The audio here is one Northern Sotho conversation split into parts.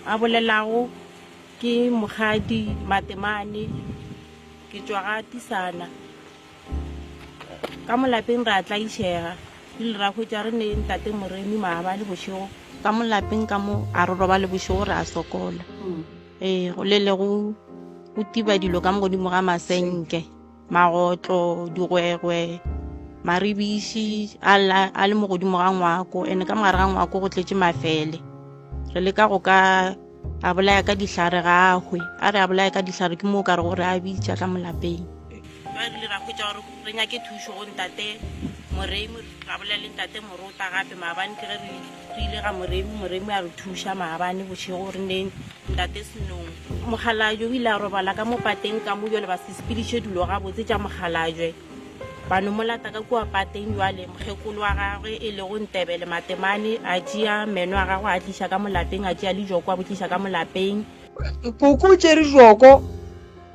A bolelago ke Mokgadi Matemane, ke tšwa ga Tisana. Ka molapeng ra tlaišega, rile ra hwetša re ne ntate Moremi maabane bošego. Ka molapeng ka mo a re robale bošego ra sokola, ee go le le go tiba dilo ka mo godimo ga masenke. magotlo digwegwe maribiši a le mo godimo ga ngwako ene ka mogare ga ngwako go tletše mafele re leka go ka a bolaya ka dihlare ga ahwe a re a bolaya ka dihlare ke moo ka re gore a bitša ka molapeng ba rile ra kgwetsa gore re nyake thušo go ntate morei ra bolela le ntate morota gape maabane ke ge re Re ile ga Moremi, Moremi a re thuša maabane bošego re neng Ntate Senong. Mokgalajwe o ile a robala ka mo pateng ka mo jwale ba se sepediše dilo gabotse tša Mokgalajwe. Ba no mo lata ka kua pateng jwale, mokgekolo wa gagwe e lego Ntebele Matemane a tšea meno a gagwe a tliša ka mo lapeng, a tšea lijoko a bo tliša ka mo lapeng. Puku o tšere joko.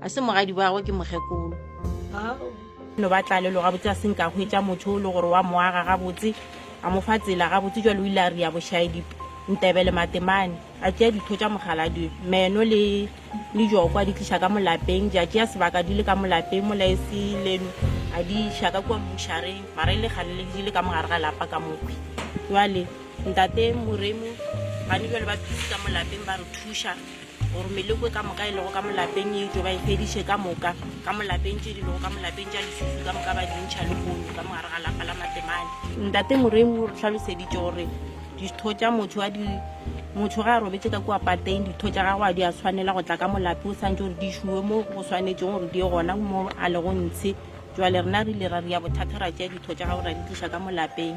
a se mogadi bagwe ke mokgekolo no ba tlalelo gabotse a senka hwetša motho o le gore wa moaga gabotse a mo fa tsela gabotse jalo o ile a ria bošaedipe ntebele matemane a tšea ditho tša mogaladi meno le le jokwa di tliša ka molapeng ja tšea sebaka di le ka molapeng molaese leno a di iša ka kua mmušareng mara e le gale le di le ka mogare ga lapa ka mokgwi jale ntate moremo gane jale ba thusa molapeng ba re thuša gore meloko e ka moka e lego ka molapeng e etšo ba e fediše ka moka ka molapeng tše di lego ka molapeng tša lesusu ka moka ba dintšha le kgono ka mogare ga lapa la matemane ntate moremo re tlhaloseditše gore ditho tša motho a di motho ga a robetse ka kua pateng ditho tša gago a di a tshwanela go tla ka molape o tshwanetse gore di šuwe mo go tshwanetseng gore di ye gona mo a lego ntshe jale rena re ile ra ria bothata ra tšea ditho tša gago ra di tliša ka molapeng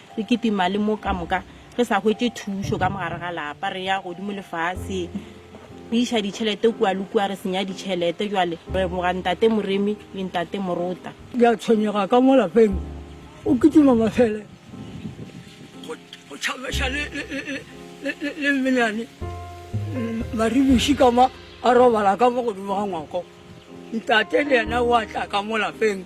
Re kitima le mo ka moka re sa hwetše thušo ka mogare ga lapa, re ya godimo lefase, re iša ditšhelete kua le kua, re senya ditšhelete. Jwale re leboga Ntate Moremi le Ntate Morota. Ke a tshwenyega ka mo lapeng, o kitima mafele, go tšhameša le mmenyane Maribuši ka mo a robala ka mo godimo ga ngwako. Ntate le yena o a tla ka mo lapeng.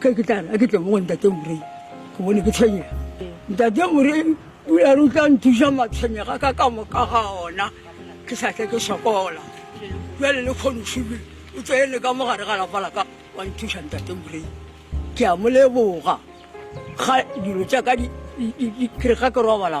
Ke ke tla re a ke tle mo go ntate Morei ke bone ke tshwenyega. Ntate Morei o ya re o tla nthuša matshwenyega ka ka moka ga ona ke sa tle ke sokola. Jale le kgono Šube o tsene ka mo gare ga lapa la ka wa nthuša ntate Morei. Ke a mo leboga ga dilo tša ka di di di di kere ga ke robala